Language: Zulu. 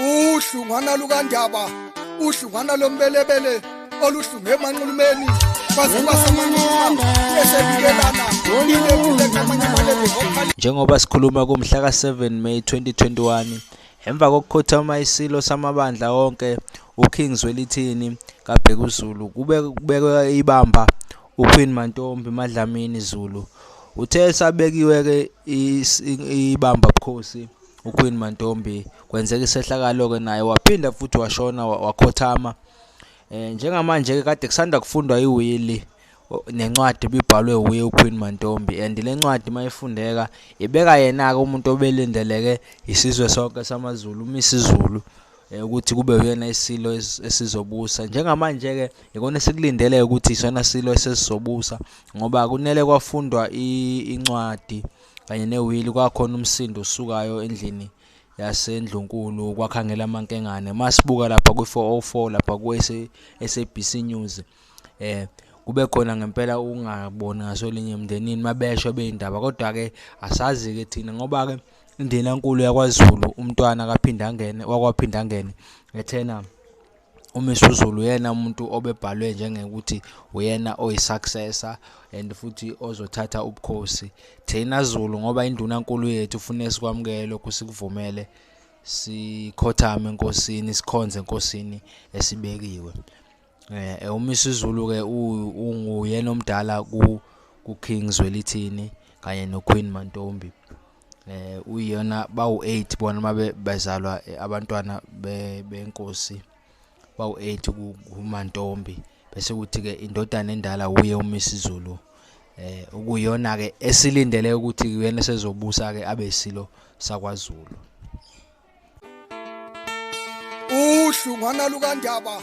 uhlungwana lukandaba uhlungwana lombelebele oluhlunge emanxulumeni njengoba sikhuluma kumhla ka-7 may 2021 emva kokukhothama isilo samabandla onke uking zwelithini kabhekuzulu kubekwe ibamba uqueen mantombi madlamini zulu Uthe sabekiwe ke ibamba bukhosi uQueen Mantombi kwenzeka isehlakalo ke naye waphinda futhi washona wakhothama eh njengamanje ke kade kusanda kufundwa iwili nencwadi bibhalwe wuye uQueen Mantombi and lencwadi mayifundeka ibeka yena ke umuntu obelindeleke isizwe sonke samaZulu uMisizulu Eh, ukuthi kube uyena isilo esizobusa njengamanje-ke ikona esikulindele ukuthi isona silo esesizobusa ngoba kunele kwafundwa incwadi kanye newili kwakhona umsindo osukayo endlini yasendlunkulu kwakhangela amankengane masibuka lapha kwi-404 lapha ku-sabc news eh kube khona ngempela ukungaboni ngaso linye emndenini mabesho beyindaba kodwa-ke asazi-ke thina ngoba-ke Indenankulu yakwaZulu umntwana kaPhindangene wakwaPhindangene ethena uMisuzulu uyena umuntu obebhalwe njengekuthi uyena oyi-successor and futhi ozothatha ubukhosi thina Zulu ngoba indunankulu yethu ufune sikwamukele lokhu sikuvumele sikhothame enkosini sikhonze enkosini esibekiwe eh, eh umisa izulu ke unguyena omdala ku ku King Zwelithini kanye no Queen Mantombi eh uyena bawu8 bona mabe bezalwa eh, abantwana benkosi bawu8 kuMantombi bese kuthi ke indodana endala uye uMisizulu eh ukuyona ke esilindele ukuthi kuyena sezobusa ke abe isilo sakwaZulu uhlungwana lukandaba